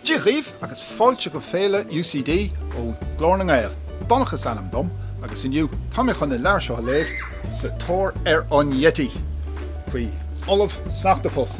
Dia dhaoibh agus fáilte go Féile UCD ó Ghlór na nGael. Donncha is ainm dom agus inniu tá mé chun an leabhar seo a léamh, Sa Tóir ar an Yeti, faoi Ollamh Sneachtapus.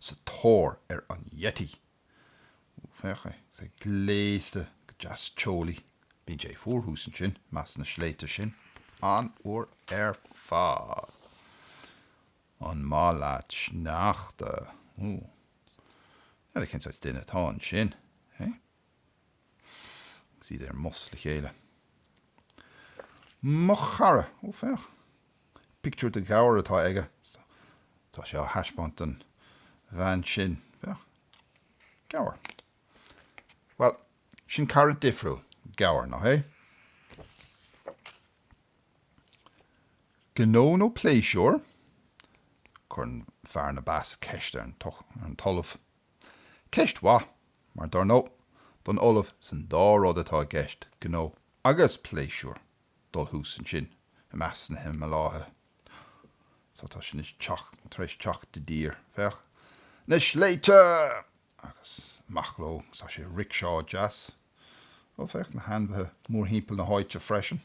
sa tóir ar an Yeti. Ó, féach é. Is é gléasta go deas teolaí. Bíonn sé fuar thuas ansin, i measc na sléibhte sin, an uair ar fad. An maith leat sneachta? Ó. N'fheadar cén saghas duine atá ansin, hé? Agus iad ar an mbus le chéile. Mo chara! Ó, féach. Pictiúr de ghabhar atá aige. Tá sé á thaispeáint don bhean sin. Féach. Gabhar. Bhuel, sin cara difriúil. Gabhar, nach é? Gnó nó pléisiúr? Cuireann fear na bpeas ceist ar an tOllamh. Ceist mhaith, mar dar ndóigh, don ollamh is an dá rud atá i gceist, gnó agus pléisiúr, dul thuas ansin i measc na Himileáithe. Sea, tá siad tar éis teacht i dtír. Féach, na sléibhte! Agus amach leo, agus tá sé i ricseá deas. Ó, féach, na hainmhithe mórthimpeall na háite freisin.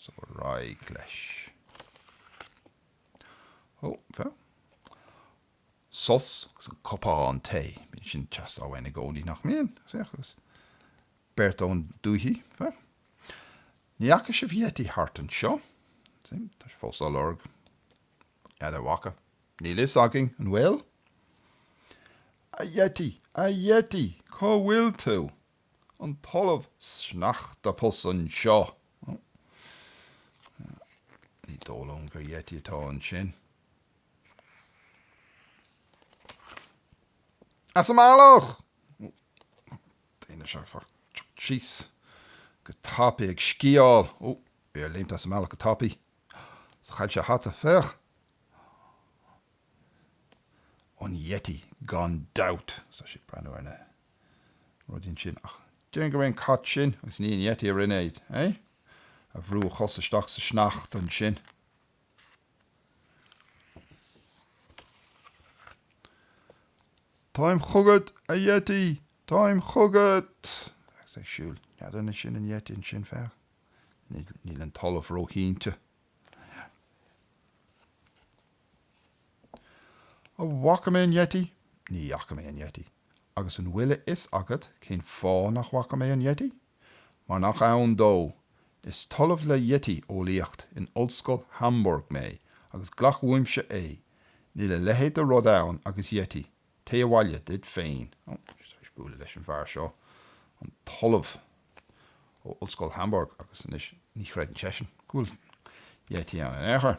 So ar aghaidh leis. Ó, féach. Sos agus an cupán tae. Bíonn sin ag teastáil uainn i gcónaí nach mbíonn? Agus beirt ón dúiche, féach. Ní fhaca sibh Yeti thart anseo? Tá sé fós á lorg. N'fheadar an bhfaca. Níl a fhios againn an bhfuil? A Yeti! A Yeti! Cá bhfuil tú? an tOllamh Sneachtapus anseo. Ní dóigh liom gur yeti atá ansin. As an mbealach! Daoine seo ag teacht síos go tapaidh ag sciáil. Ó, bhí air léimt as an mbealach go tapaidh. Sea, chaill sé a hata. Féach! An yeti gan dabht! Is tá sé ag breathnú ar na. rud ansin ach déarfainn gurb é an cat sin agus ní an yeti a rinne é, é? a bhrú a chos isteach sa sneachta ansin. Táim chugat, a yeti! Táim chugat! agus ag siúl. N'fheadar an sin an yeti ansin, féach. Níl an talamh róchinnte. An bhfaca mé an Yeti? Ní fhaca mé an Yeti. Agus an bhfuil a fhios agat cén fáth nach bhfaca mé an Yeti? Mar nach ann dó. Is Ollamh le Yeti-eolaíocht in Ollscoil Hamburg mé agus glac uaimse é, níl a leithéid de rud ann agus Yeti, téigh abhaile duit féin. Ó, bhí mé tar éis bualadh leis an bhfear seo, an tOllamh ó Ollscoil Hamburg, agus anois ní chreideann seisean go bhfuil Yeti ann in aon chor.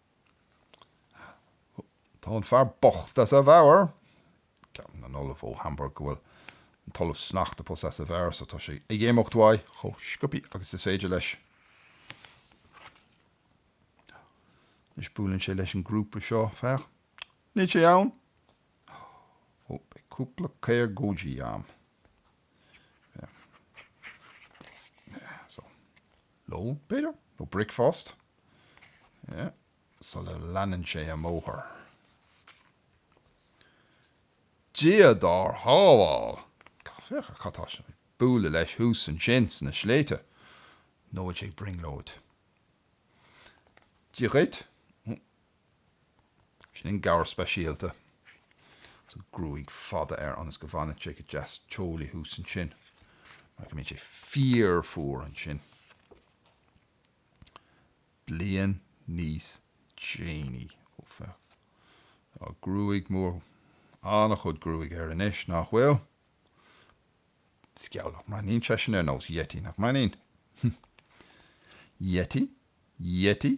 Tá an fear bocht as a mheabhair. Ceapann an Ollamh ó Hamburg go bhfuil an tOllamh Sneachtapus as a mheabhair so tá sé ag imeacht uaidh chomh sciobtha agus is féidir leis. Anois buaileann sé leis an grúpa seo, féach. Níl sé ann! Ó, beidh cúpla briosgóidí agam. Féach. Yeah, so. Lón, b'fhéidir? Nó bricfeast? Yeah. Sula leanann sé an bóthar. Dia dár shábháil! Cad, féach ar cad tá sé ag bualadh leis thuas ansin sna sléibhte. Nó an bhfuil sé ag brionglóid? Dia dhuit. Sin é an gabhar speisialta agus an ghruaig fada air ionas go bhfanann sé go deas teolaí thuas ansin mar go mbíonn sé fíor-fhuar ansin. Bliain níos déanaí, ó féach, tá gruaig mór, an-chuid gruaige air anois, nach bhfuil? Is geall le nach mbreathnaíonn seisean ar nós yeti, nach mbreathnaíonn? Yeti? Yeti?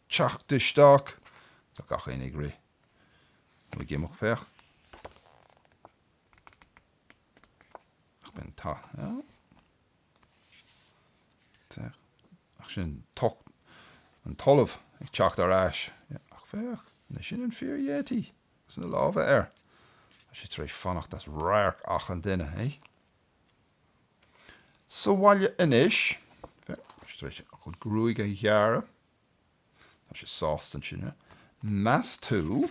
teacht isteach. Tá achan duine ag rith nó ag imeacht, féach. Ach b'in ta. Ach sin an tOllamh ag teacht ar ais. Ach féach, nach sin an fíor-Yeti, agus na lámha air. Tá sé tar éis fanacht as radharc achan duine, é. Sa bhaile anois, féach, tá sé tar éis a chuid gruaige a ghearradh. Tá sé sásta ansin. Meas tú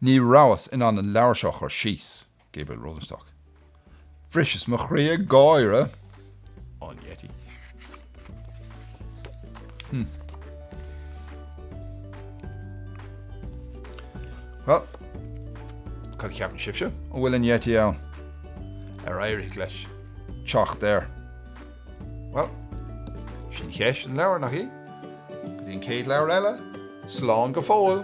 Ní rabhas in ann an leabhar seo a chur síos, Gabriel Rosenstock. Bhriseas mo chroí ag gáire faoin Yeti. Hm. Bhuel, cad a cheapann sibhse? An bhfuil an Yeti ann? Ar éirigh leis? teacht air. Bhuel, sin ceist an leabhair, nach í? Go dtí an chéad leabhar eile, slán go fóill!